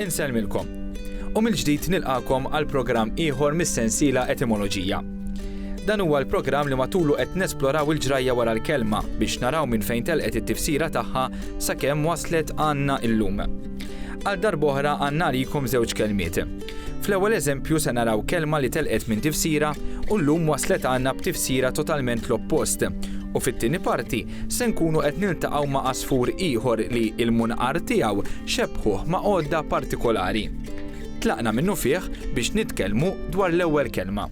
Insellmilkom. U mill-ġdid nilqakom għal programm ieħor mis-sensiela Etimoloġija. Dan huwa l-programm li matulu qed nesploraw il-ġrajja wara l-kelma biex naraw minn fejn telqet it-tifsira tagħha sakemm waslet għandna illum. Għal darboħra għandna għalikom żewġ kelmiet. Fl-ewwel eżempju se naraw kelma li telqet minn tifsira u llum waslet għandna b'tifsira totalment l-oppost. U fit-tieni parti se nkunu qed niltaqgħu ma' għasfur ieħor li l-munqar tiegħu xebbħuh ma' għodda partikolari. Tlaqna minnufih biex nitkellmu dwar l-ewwel kelma.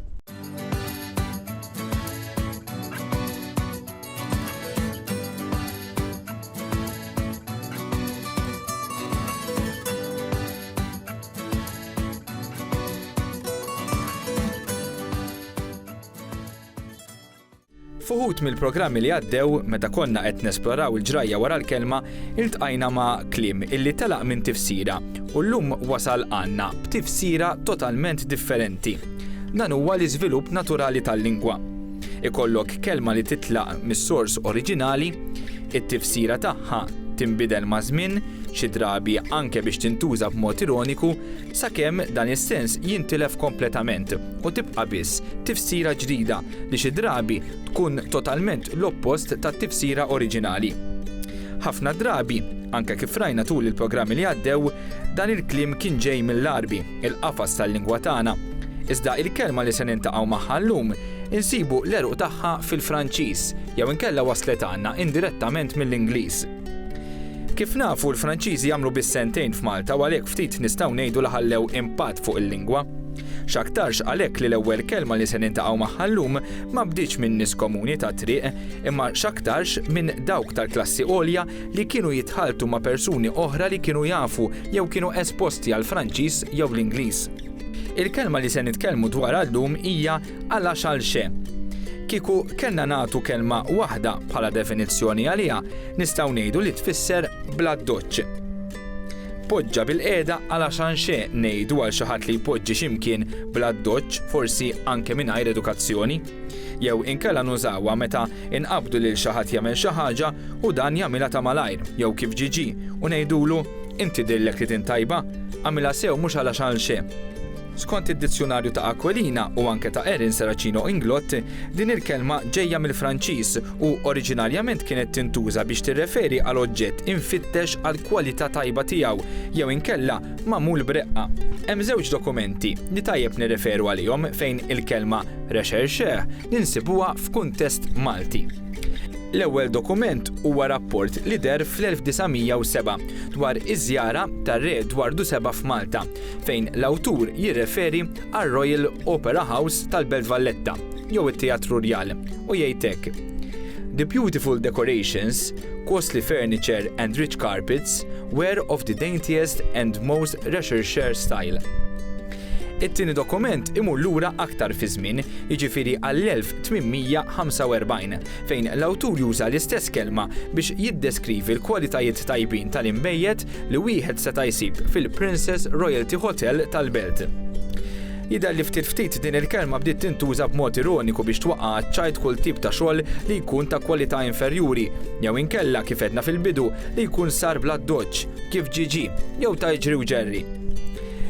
F'uħud mill-programmi li għaddew, meta konna qed nesploraw il-ġrajja wara l-kelma, iltqajna ma' kliem illi telaq minn tifsira u llum wasal għandna b'tifsira totalment differenti. Dan huwa l-iżvilupp naturali tal-lingwa. Ikollok kelma li titlaq mis-sors oriġinali, it-tifsira tagħha tinbidel maż-żmien, xi drabi anke biex tintuża b'mod ironiku, sakemm dan is-sens jintilef kompletament u tibqa' biss tifsira ġdida li xi drabi tkun totalment l-oppost tat-tifsira oriġinali. Ħafna drabi, anke kif rajna tul il-programmi li għaddew, dan il-kliem kien ġej mill-Għarbi. il-qafas tal-lingwa tagħna, iżda il-kelma li se niltaqgħu magħha llum insibu l-għeruq tagħha fil-Franċiż jew inkella waslet għandna indirettament mill-Ingliż. Kif nafu l-Franċiżi għamlu biss sentejn f'Malta u għalhekk ftit nistgħu ngħidu li ħallew impatt fuq il-lingwa. X'aktarx għalhekk li l-ewwel kelma li se niltaqgħu magħha llum ma bdietx minn nies komuni tat-triq imma x'aktarx minn dawk tal-klassi għolja li kienu jitħalltu ma' persuni oħra li kienu jafu jew kienu esposti għall-Franċiż jew l-Ingliż. Il-kelma li se nitkellmu dwarha llum hija għala xalxe. Kieku kellna nagħtu kelma waħda bħala definizzjoni għaliha, nistgħu ngħidu li tfisser bl-addoċċ. Poġġa bil-qiegħda għala xanxe ngħidu għal xi ħadd li jpoġġi x'imkien bl-addoċċ, forsi anke mingħajr edukazzjoni. jew inkella nużawha meta inqabbdu lil xi ħadd jagħmel xi ħaġa u dan jagħmilha ta' malajr jew kif ġie ġie u ngħidulu, Inti dillek li tint tajba, għamilha sew mhux għala x'għalxejn. Skont id-Dizzjunarju ta' Aquilina u anke ta' Erin Serracino Inglott, din il-kelma ġejja mill-Franċiż u oriġinarjament kienet tintuża biex tirreferi għal oġġett imfittex għal kwalità tajba tiegħu jew inkella magħmul b'reqqa. Hemm żewġ dokumenti li tajjeb nirreferu għalihom fejn il-kelma Recherche li nsibuha f'kuntest Malti. L-ewwel dokument huwa rapport li deher fl-1907 dwar iż-żjara tar-Re Edwardu Seba' f'Malta, fejn l-awtur jirreferi għar-Royal Opera House tal-Belt Valletta, jew it-Teatru Rjal, u jgħid hekk, The beautiful decorations, costly furniture and rich carpets were of the daintiest and most recherche style. It-tieni dokument imur lura aktar fiż-żmien, jiġifieri għall-1845, fejn l-awtur juża l-istess kelma biex jiddeskrivi l-kwalitajiet tajbin tal-inbejjed li wieħed seta' jsib fil-Princes Royalty Hotel tal-belt. Jidher li ftit ftit din il-kelma bdiet tintuża b'mod ironiku biex twaqqa' għaċ-ċajt kull tip ta' xogħol li jkun ta' kwalità inferjuri, jew inkella, kif għedna fil-bidu, li jkun sar bl-addoċċ. kif Ġiġi jew ta' iġri u ġerri.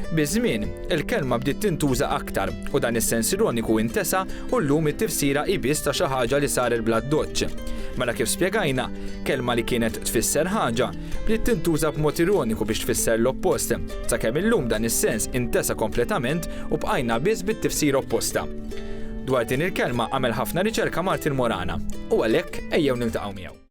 Biż-żmien, il-kelma bdiet tintuża aktar u dan is-sens ironiku intesa u llum it-tifsira hi biss ta' xi ħaġa li saret bla ddoċċ. Mela kif spjegajna, kelma li kienet tfisser ħaġa, bdiet tintuża b'mod ironiku biex tfisser l-oppost, sakemm illum dan is-sens intesa kompletament u bqajna biss bit-tifsira opposta. Dwar din il-kelma għamel ħafna riċerka Martin Morana u għalhekk ejjew niltaqgħu miegħu.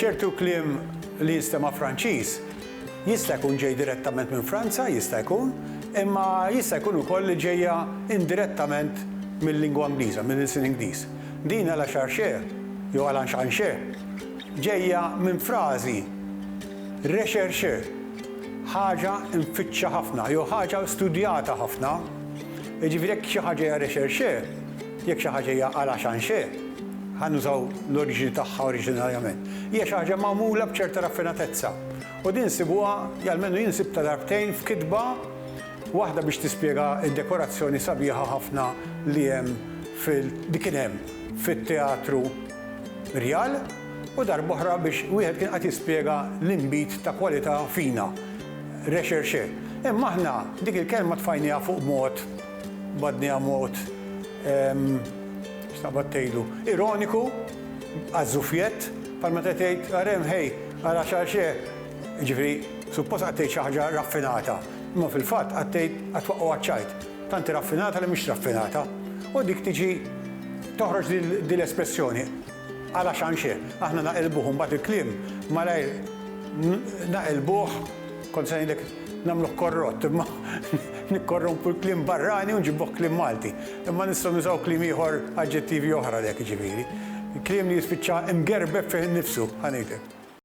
Ċertu kliem li jinstema' Franċiż jista' jkun ġej direttament minn Franza, jista' jkun, imma jista' jkun ukoll li ġejja indirettament mil-lingwa Ingliża, mill-ilsien Ingliż. Din à la charche jew à l'enchanchez ġejja minn frażi recherche, ħaġa mfittxa ħafna jew ħaġa studjata ħafna. Jiġifieri jekk xi ħaġa hija recherche, Jekk xi ħaġa hija à la change, ħa nużaw l-oriġini tagħha oriġinarjament, hija xi ħaġa magħmula b'ċerta raffinatezza. U din nsibuha, jew almenu jien sibtha darbtejn f'kitba waħda biex tispjega d-dekorazzjoni sabiħa ħafna li hemm fil, li kien hemm fit-Teatru Rjal u darb'oħra biex wieħed kien qed jispjega l-inbid ta' kwalità fina, recherche. Imma aħna dik il-kelma tfajnieha fuq mod. Badni ha mod, x'naqbad tgħidlu, ironiku, għaż-żufjett, bħal meta tgħid, ara hemm ħej, ara x'għal x'e. Jiġifieri, suppost qagħad tgħid xi ħaġa raffinata, imma fil-fatt qagħad tgħid, qagħad twaqqgħu għaċ-ċajt, tant hi raffinata li mhix raffinata. U dik tiġi, toħroġ din l-espressjoni. Ara x'għanxi, aħna naqilbuh u mbagħad il-kliem malajr naqilbuh, kont se ngħidlek nagħmluh korrott, imma nikkorrompu l-kliem barrani u nġibuh kliem Malti. Imma nistgħu nużaw kliem ieħor, aġġettivi oħra għalhekk jiġifieri. Kliem li jispiċċa mgerbeb fih innifsu, ħa ngħidlek.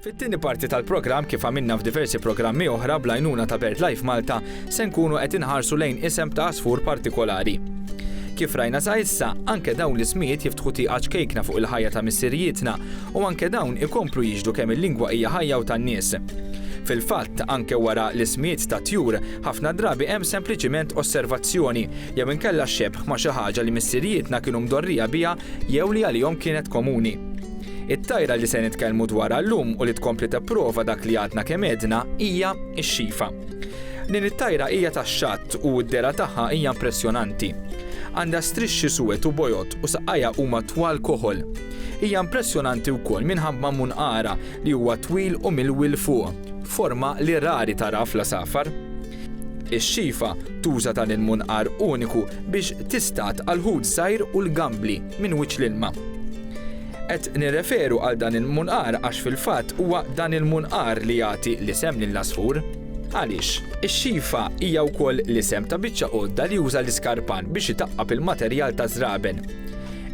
Fit-tieni parti tal-programm kif għamilna f'diversi programmi oħra bl-għajnuna ta' BirdLife Malta se nkunu qed inħarsu lejn isem ta' għasfur partikolari. Kif rajna sa issa, anke dawn l-ismijiet jiftħu tieqa ċkejkna fuq il-ħajja ta' missirijietna u anke dawn ikomplu jiġdu kemm il-lingwa hija ħajja u tan-nies. Fil-fatt, anke wara l-ismijiet ta' tjur, ħafna drabi hemm sempliċiment osservazzjoni jew inkella xebħ ma' xi ħaġa li missirijietna kienu mdorrija biha jew li għalihom kienet komuni. It-tajra li se nitkellmu dwarha llum u li tkompli tipprova dak li għadna kemm għedna hija x-xifa. Din it-tajra hija tax-xatt u d-dehra tagħha hija impressjonanti. Għandha strixxi suwed u bojod u saqajha huma twal koħol. Hija impressjonanti wkoll minħabba munqara li huwa twil u milwi 'l fuq, forma li rari taraha fl-għasafar. Ix-xifa tuża dan il-munqar uniku biex tistad għal ħut żgħir u l-gambli minn wiċċ l-ilma. Qed nirreferu għal dan il-munqar għax fil-fatt huwa dan il-munqar li jagħti l-isem lill-għasfur. Għaliex? Ix-xifa hija wkoll l-isem ta' biċċa għodda li juża l-iskarpan biex itaqqab il-materjal taż-żraben.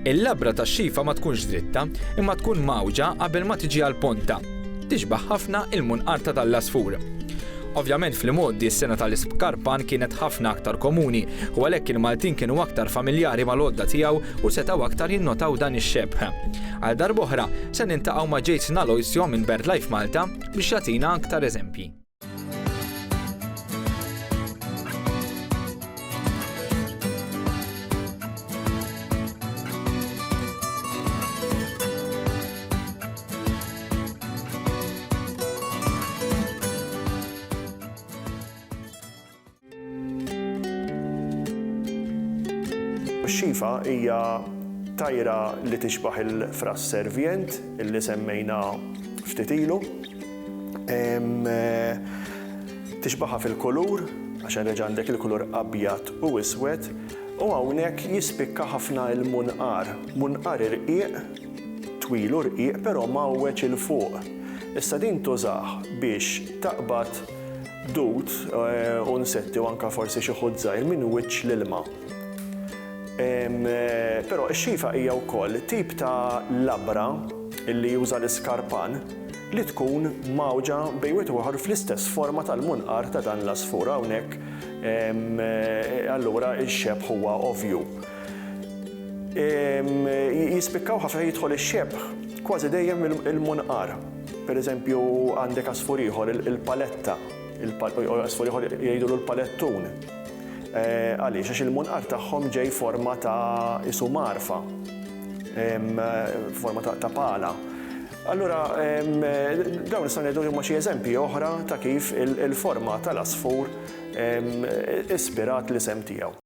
Il-labra tax-xifa ma tkunx dritta, imma tkun mgħawġa qabel ma tiġi għall-ponta. Tixbah ħafna il-munqar ta' dan l-għasfur. Ovvjament fl-imgħoddi s-sengħa tal-ispkarpan kienet ħafna aktar komuni u għalhekk il-Maltin kienu aktar familjari mal-għodda tiegħu u setgħu aktar jinnotaw dan ix-xebh. Għal darb'oħra, se niltaqgħu ma' Jason Aloisio minn BirdLife Malta biex jagħtina aktar eżempji. Xifa hija tajra li tixbaħ il-fras servient illi semmejna ftit ilu. Tixbaħha fil-kulur, għax reġa' għandek il-kulur abjad u iswed, u hawnhekk jispikka ħafna l-munqar. Munqar irqiq twil u rqiq però mgħawweġ 'il fuq. Issa din tużah biex taqbad dud u nsetti u anke forsi xi ħut żgħir minn wiċċ l-ilma. Però ix-xifa hija wkoll tip ta' labra li juża l-iskarpan li tkun mgħawġa bejn wieħed u ieħor fl-istess forma tal-munqar ta' dan l-għasfur. Hawnhekk allura x-xebh huwa ovvju. Jispikkaw ħafna jidħol ix-xebħ kważi dejjem il-munqar. Per eżempju għandek għasfur ieħor, il-paletta, għasfur ieħor jgħidulu l-palettun. Għaliex? Għax il-munqar tagħhom ġej forma ta' qisu mgħarfa, forma ta' pala. Allura dawn nistgħu ngħidu li huma xi eżempji oħra ta' kif il-forma tal-għasfur ispirat l-isem tiegħu.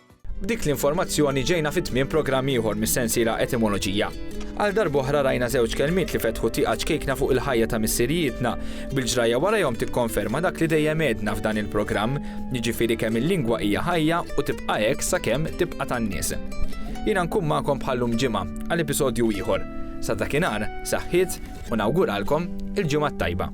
B'dik l-informazzjoni ġejna fi tmiem programm ieħor mis-sensiela Etimoloġija. Għal darb'oħra rajna żewġ kelmiet li fetħu tieqa ċkejkna fuq il-ħajja ta' missirijietna, bil-ġrajja warajhom tikkonferma dak li dejjem għedna f'dan il-programm, jiġifieri kemm il-lingwa hija ħajja u tibqa' hekk sakemm tibqa' tan-nies. Jiena nkun magħkom bħal llum ġimgħa għal episodju ieħor. Sa dakinhar, saħħiet u nawguralkom il-ġimgħa t-tajba.